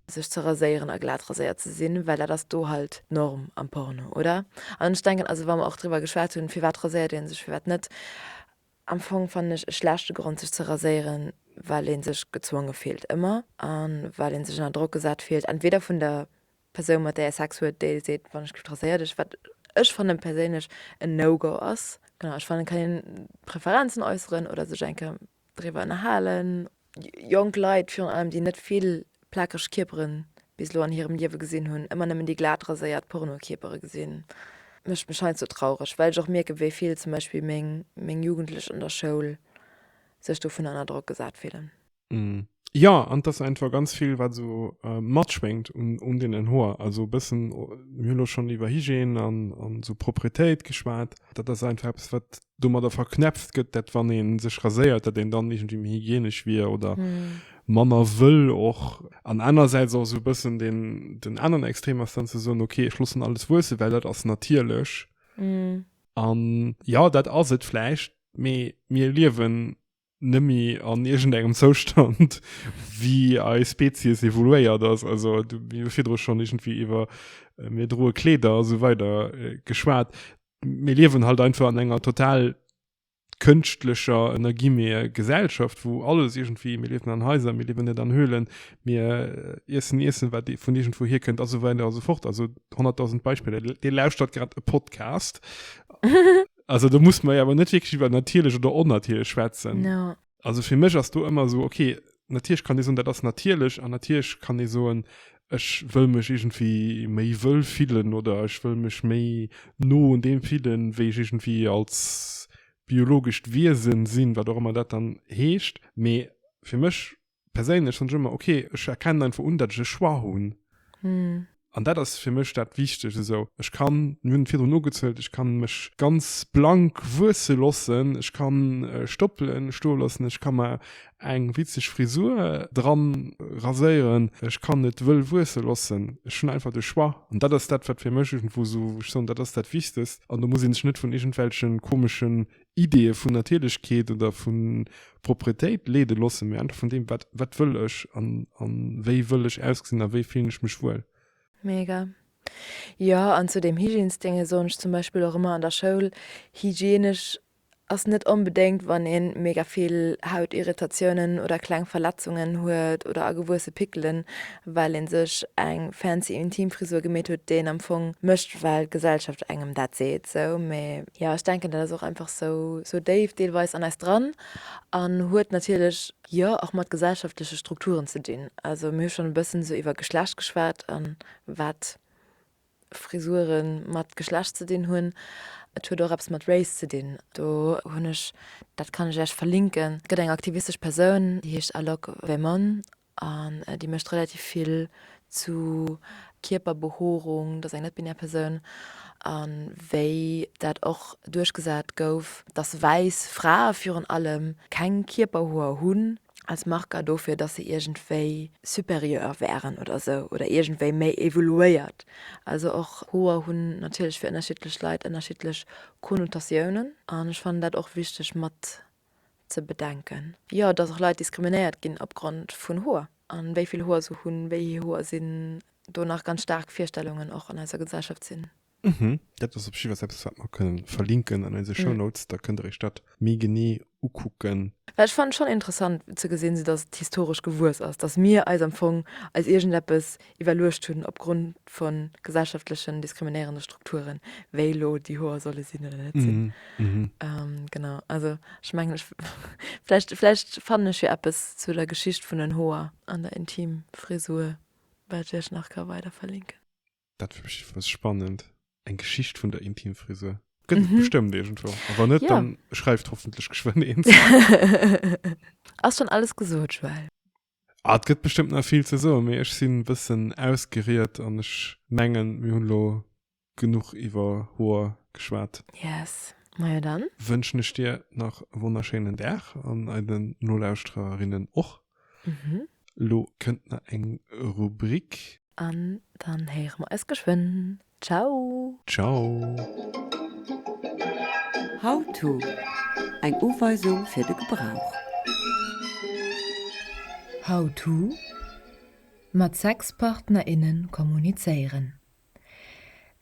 sech ze raséieren a glat raséiert ze sinn, well dat ass do halt d'Norm am Porno, oder? An ech denken, also wa mer och driwwer geschwat hunn, firwat raséiert ee sech, firwat net, am Fong fannen ech e schlechte Grond sech ze raséieren, well ee sech gezwonge fillt ëmmer a well ee sech ënner Drock gesat fillt, entweder vun der Persoun mat där ee Sex huet, déi seet, wann ech straiséiert ech, wat ech fannen perséinlech en no go ass. Genau, ech fannen et kann een Preferenzen äusseren oder sech eng Kéier driwwer ënnerhalen. Jonk Leit virun allem, déi net vill plakeg Kierpere bis elo an hirem Liewe gesinn hunn, ëmmer nëmmen déi glat raséiert Porno-Kierpere gesinn, mécht mech heiansdo traureg, well ech och mierken, wéi vill zum Beispill meng Jugendlech an der Schoul sech dovun ënner Drock gesat fillen. Mm. Ja, an das einfach ganz viel, was so äh, matschwenkt um, um den Hoer. Also ein bisschen, wir haben schon über Hygiene an, an so Proprietät geschwärzt. Das ist einfach etwas, was damit da verknäpft wird, dass wenn man sich rasiert, dass man dann irgendwie mehr hygienisch wäre oder hm. manner will auch. An andererseits auch so ein bisschen den, den anderen Extrem ist dann zu sagen, okay, ich lasse alles wachsen, weil das ist natürlich. Hm. Und ja, das ist es vielleicht, aber wir leben nëmme an irgend engem Zoustand wie ei Spezies evoluéiert ass also du mir virdro schon irgendwie iwwer äh, mir droe Kleeder so weider äh, geschwaart mir liewen halt einfach an enger total kënschtlecher ënnergimeer Gesellschaft wo alles irgendwie mir liewen an Häuser mir liewen net an Höhlen mir äh, iessen iessen wat vun irgendwo hier kënnt also weiter also fort also 100.000 Beispieler Dir lauschtert grad e Podcast Also da muss man ja aber net wirklich über natierlech oder onnatierlech schwätzen. No. Also fir mech ass do ëmmer so okay, natierlech kann ee soen, dat ass natierlech an natierlech kann ee soen, ech wëll mech iergendwéi méi wëll fillen oder ech wëll mech méi no un deem fillen, wéi ech iergendwéi als biologescht Wiesen sinn, wat och ëmmer dat dann heescht. Mee fir mech perséinlech schon ëmmer okay ech erkennen einfach un dat ech e Choix hunn mm. an dat ass fir mech dat wichteg esou ech kann mir hunn et virdrun ugezuelt ech kann mech ganz blank wuesse lossen ech kann Stoppele stoe lossen ech kann mer eng witzeg Frisur dran raséieren ech kann et wëll wuesse lossen ech hunn einfach de Choix an dat ass dat wat fir mech irgendwou esou wou ech soen dat ass dat wichtegst an do muss ee sech net vun iergendwelche komeschen Ideeë vun Natierlechkeet oder vu Propretéit leede loossen, mee einfach vun deem, wat, wat wëll ech an, a wéi wëll ech ausgesinn a wéi fillen ech mech wuel. Mega. Jo, an zu deem Hygiensdénge soen ech zum Beispill och ëmmer an der Schoul, hygienesch ass net onbedéngt, wann ee mega vill Hautirritatiounen oder kleng Verletzungen huet oder agewuesse Pickelen, well ee sech eng fancy Intimfrisur gemeet huet, déi een am Fong mécht, well d'Gesellschaft engem dat seet, sou. Mee Jo, ech denken dat ass och einfach sou sou déif deelweis an eis dran an huet natierlech jo och mat gesellschaftleche Strukturen ze dinn. Also mir hu schonn e bëssen sou iwwer Geschlecht geschwat an wat Frisurë mat Geschlecht ze dinn hunn. Et huet och eppes mat Race ze dinn. Do hunn ech, dat kann ech Iech verlinken, et gëtt eng aktivistesch Persoun déi heescht Alok Verman An déi mécht relativ vill zu Kierperbehoerung, dass eng net-binär Persoun, a wéi dat och duerchgesat gouf, dass wäiss Frae virun allem keng Kierperhoer hunn als Marker dofir, dass se iergendwéi supérieur wären oder esou oder iergendwéi méi evoluéiert. Also och Hoer hunn natierlech fir ënnerschiddlech Leit ënnerschiddlech Konnotatiounen. An ech fannen dat och wichteg mat ze bedenken. Jo, dass och Leit diskriminéiert ginn opgrond vun Hoer, an wéi vill Hoer se hunn, wéi hir Hoer sinn, do nach ganz staark Virstellungen och an eiser Gesellschaft sinn. Mhm, dat ass op jiddwer Fall eppes wat mer kënnen verlinken an eise Show Notes, da kënnt der iech dat méi genee ukucken. Well ech fannen schonn interessant ze gesinn, sou dass et historesch gewuess ass, dass mir eis am Fong als iergendeppes iwwerluecht hunn opgrond vu gesellschaftlechen diskriminéierende Strukturen, wéi elo déi Hoer solle sinn oder net sinn. Genau. Also ech mengen, ech vläicht, vläicht fannen ech jo eppes zu der Geschicht vun den Hoer an der Intimfrisur, wat ech iech nach ka weider verlinken. Dat wier bestimmt spannend, eng Geschicht vun der Intimfrisur. Gëtt et bestëmmt iergendwou. A wann net, da schreift hoffentlech geschwënn een. Ass schonn alles gesot, Joelle. Ah, et gëtt bestëmmt nach vill ze soen, mee ech sinn e bëssen ausgeriet an ech mengen, mir hunn elo genuch iwwer Hoer geschwat. Yes, majo dann. Wënschen ech dir nach e wonnerschéinen Dag an eiden Nolauschtererinnen och. Elo kënnt nach eng Rubrik. An dann héiere mer eis geschwënn. Ciao! Ciao! How-to, Eng Uweisung fir de Gebrauch. How-to, Mat Sexpartner, innen kommunizéieren.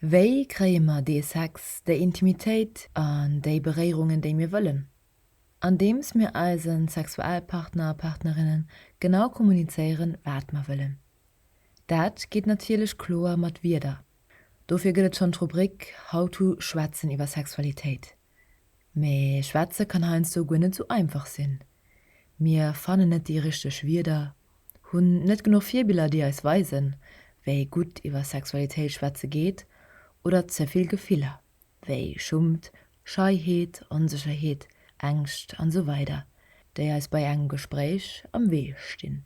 Wéi kréie mer dee Sex, déi Intimitéit an déi Beréierungen, déi mir wëllen? andeems mir eise Sexualpartner a partnerinne genau kommunizéieren, wat mer wëllen. Dat geet natierlech kloer mat Wierder, dofir gëtt et schonn d'Rubrik How to Schwätzen iwwer Sexualitéit. Mee schwätze kann heiansdo guer net sou einfach sinn. Mir fannen net déi richteg Wierder, hunn net genuch Virbiller, déi eis weisen, wéi gutt iwwer Sexualitéit schwätze geet, oder ze vill Gefiller. wéi Schummt, Scheiheet, Onsécherheet, Ängscht an esou weider, déi eis bei engem Gespréich am Wee stinn.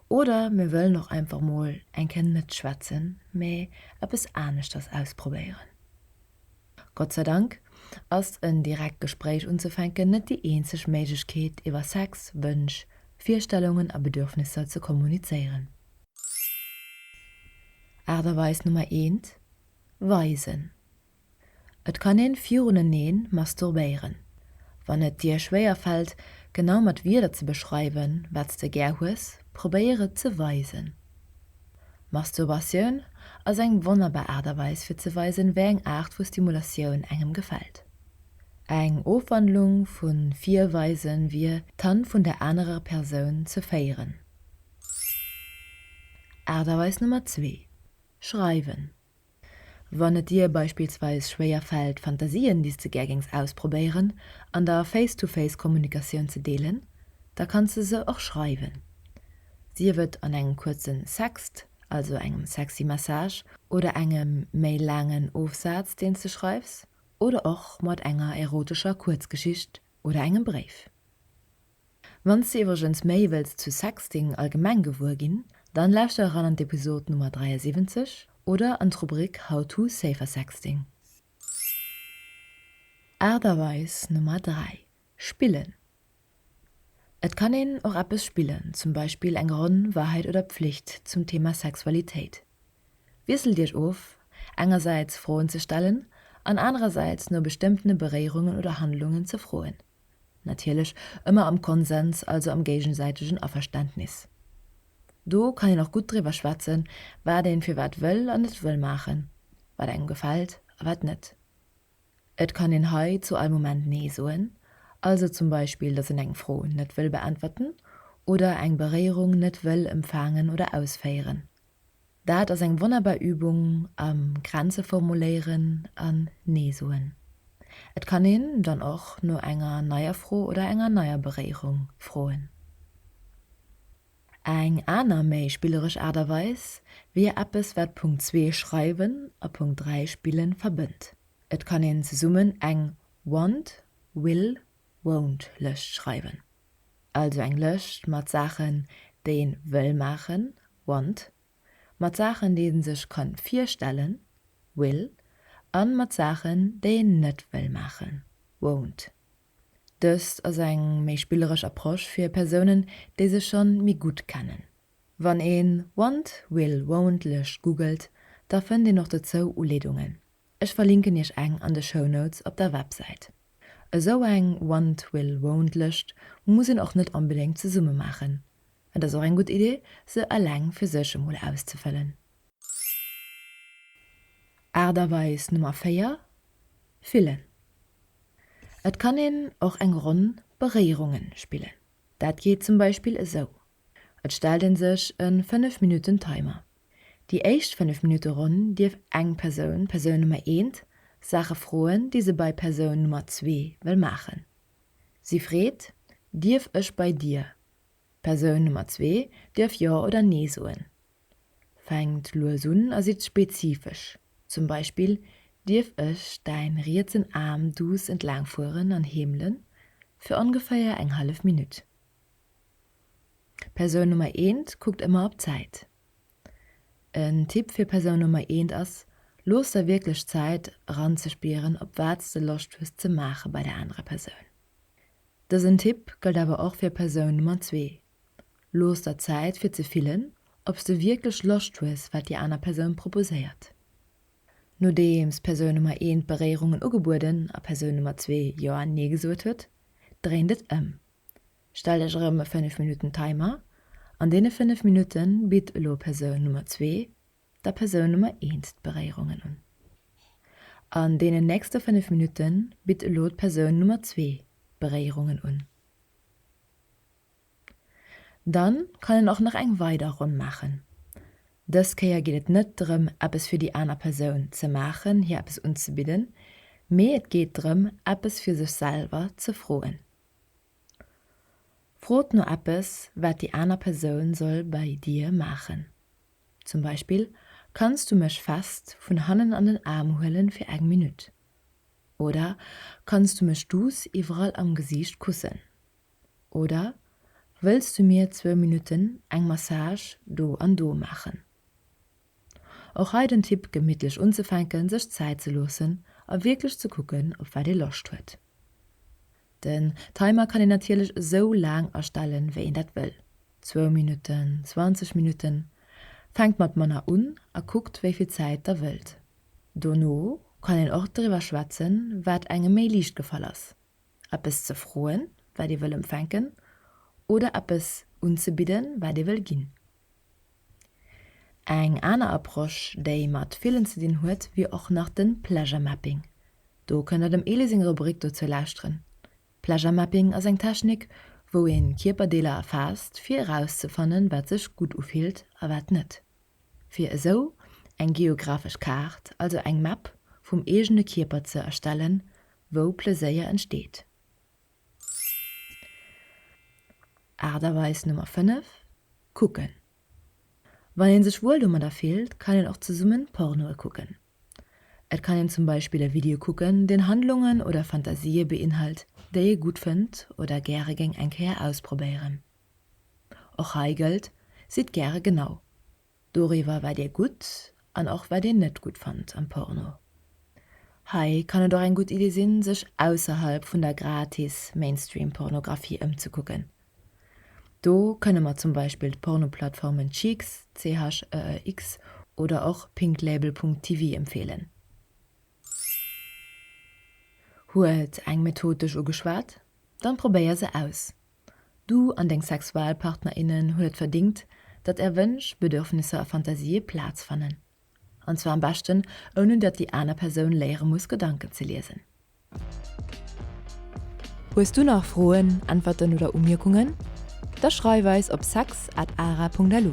Oder mir wëllen och einfach mol eng Kéier net schwätzen, mee eppes aneschters ausprobéieren. Gott sei Dank ass en direkt Gespréich unzefänken net déi eenzeg Méiglechkeet iwwer Sex, Wënsch, Virstellungen a Bedürfnisser ze kommunizéieren. Aart a Weis Nummer eent, Weisen. Et kann een viruneneen masturbéieren. Wann et dir schwéier fällt genau mat Wierder ze beschreiwen wat's de gär hues, probéier et ze weisen. Masturbatioun ass eng wonnerbar Aart a Weis fir ze weisen wéi eng Aart vu Stimulatioun engem gefällt. Eng Ofwandlung vu virweisen wier d'Hand vun der anerer Persoun ze féieren. Aart a Weis Nummer zwee Schreiwen. Wann et dir beispillsweis schwéier fält, Fantasien, déi s de gär géings ausprobéieren, an der Face-to-Face-Kommunikatioun ze deelen, da kanns de se och schreiwen. Sief et an engem kuerzen Sext, also engem sexy Message, oder engem méi laangen Ofsaz, deen s de schreifs, oder och mat enger erotescher Kuerzgeschicht oder engem Bréif. Wanns de iwwregens méi wëlls zu Sexting allgemeng gewuer ginn, dann lauschter eran an d'Episode Nummer 73 oder an d'Rubrik How to safer sexting. Aart a Weis Nummer 3, Spillen Et kann een och eppes spillen, zum Beispill eng Ronn Wahrheit oder Pflicht zum Thema Sexualitéit. Wiesselt iech of, engersäits Froen ze stellen an anerersäits no bestëmmtene Beréierungen oder Handlungen ze froen. Natierlech ëmmer am Konsens, also am géigesäitegen Averständnis. Do kann een och gutt driwwer schwätzen, wat een firwat wëll an net wëll maachen, wat engem gefält a wat net. Et kann een hei zu all Moment Nee soen, also zum Beispill, dass een eng Fro net wëll beäntwerten oder eng Beréierung net wëll emfaangen oder ausféieren. Daat ass eng wonnerbar Übung am Grenze formuléieren an Nee soen. Et kann een dann och no enger neier Fro oder enger neier Beréierung froen. Eng aner méi spilleresch Art a Weis wier eppes wat Punkt 2 Schreiwen a Punkt 3 Spillen verbënnt. Et kann een zesummen eng Want, Will, Won't Lëscht schreiwen. also eng Lëscht mat Saachen, déi een wëll maachen, want, mat Saachen, déi een sech kann virstellen, will, an mat Saachen, déi een net wëll maachen, won't. Dëst ass eng méi spilleresch Approche fir Persounen, déi sech schonn méi gutt kennen. Wann een want, will, won't Lëscht googelt, da fënnt een och dozou Uleedungen. Ech verlinken iech eng an de Show Notes op der Websäit. Esou eng Want will won't Lëscht muss een och net onbedéngt zesumme maachen. Et ass och eng gutt Idee se eleng fir sech emol auszefëllen. Aart a Weis Nummer 4, Fillen. Et kann een och eng Ronn Beréierungen spillen. Dat geet zum Beispill esou. Et stellt een sech e 5 Minutten Timer. Déi éischt 5 Minutte Ronn dierf eng Persoun, Persoun Nummer eent, Saache froen, déi se bei Persoun Nummer zwee wëll maachen. Si freet, Dierf ech bei dir? Persoun Nummer zwee dierf Jo oder Nee soen. Fänkt lues un a sidd spezifesch, zum Beispill, Dierf ech däin rietsen Aarm duuss entlaang fueren an heemelen? Fir ongeféier eng hallef Minutt. Persoun Nummer eent kuckt ëmmer op d'Zäit. En Tipp fir Persoun Nummer eent ass, Looss der wierklech Zäit, eranzespieren, op wat s de Loscht hues ze maache bei der anerer Persoun. Dësen Tipp gëllt awer och fir Persoun Nummer zwee, Looss der Zäit, fir ze fillen, ob s de wierklech Loscht hues, wat déi aner Persoun proposéiert. Nodeems Persoun Nummer eent Beréierungen ugebueden a Persoun Nummer zwee Jo an Nee gesot huet, dréint et ëm. Stell dech erëm e 5 Minutten Timer. An deene 5 Minutte bitt elo Persoun Nummer 2 der Persoun Nummer 1 d'Beréierungen un. An deenen nächste 5 Minutte bitt elo d'Persoun Nummer 2 d'Beréierungen un. Dann kann een och nach eng weider Ronn maachen. Dës Kéier geet et net drëm eppes fir déi aner Persoun ze maachen, hir eppes unzebidden, mee et geet drëm eppes fir sech selwer ze froen. Frot no eppes, wat déi aner Persoun soll bei dir maachen. Zum Beispill, Kanns du mech fest vun hannen an den Aarm huelen fir eng Minutt? Oder, Kanns du mech duuss iwwerall am Gesiicht kussen? Oder, Wëlls du mir zwou Minutten eng Massage do an do maachen? Och hei den Tipp gemittlech unzefänken, sech Zäit ze loossen a wierklech ze kucken op wat ee Loscht huet. Den Timer kann een natierlech esou laang astellen wéi een dat wëll, zwou Minutten, 20 Minutten. Fänkt mat manner un a kuckt wéi vill Zäit der wëllt. Dono kann een och driwwer schwätzen wat engem méi liicht gefall ass, eppes ze froen wat ee wëll empfänken oder eppes unzebidden wat ee wëll ginn. Eng aner Approche, déi mat villen ze dinn huet, wier och nach de Pleasure Mapping. Do kënnt der dem Elie seng Rubrik dozou lauschteren. Pleasure Mapping ass eng Technik, wou ee Kierperdeeler erfaasst, fir erauszefannen, wat sech gutt ufillt a wat net. Fir esou eng geographesch Kaart, also eng Map vum eegene Kierper ze erstellen, wou Pleséier entsteet. Aart a Weis Nummer 5, Kucken Wann een sech wuel domadder fillt, kann een och zesummen Pornoe kucken. Et kann een zum Beispill e Video kucken, deen Handlungen oder Fantasië beinhalt, déi ee gutt fënnt oder gäre géing eng Kéier ausprobéieren. Och hei gëllt, Sidd gäre genau. Doriwwer wat dir gutt an och wat dir net gutt fannt am Porno. Hei kann et och eng gutt Idee sinn sech ausserhalb vun der gratis Mainstream Pornographie ëmzekucken. Do kënne mer zum Beispill d'Pornoplattformen Cheex, CHEEX, oder och pinklabel.tv empfeelen. Huet eng Method dech ugeschwat? Dann probéier se aus. Du an deng Sexualpartnerinnen hutt et verdingt, datt Är Wënsch, Bedürfnisser a Fantasië Plaz fannen. An zwar am beschten, ouni datt déi aner Persoun léiere muss Gedanken ze liesen. Hues du nach Froen, Äntwerten oder Umierkungen? Da schreif eis op sex at ara Punkt lu.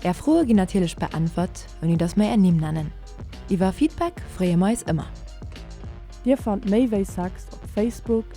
Är Froe ginn natierlech beäntwert, ouni datt mer Är Nimm nennen. Iwwer Feedback freeë mer eis ëmmer. Dir fannt méi wéi Sex op Facebook.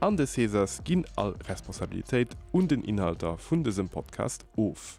An de Césars ginn all Responsabilitéit un den Inhalter vun dësem Podcast of.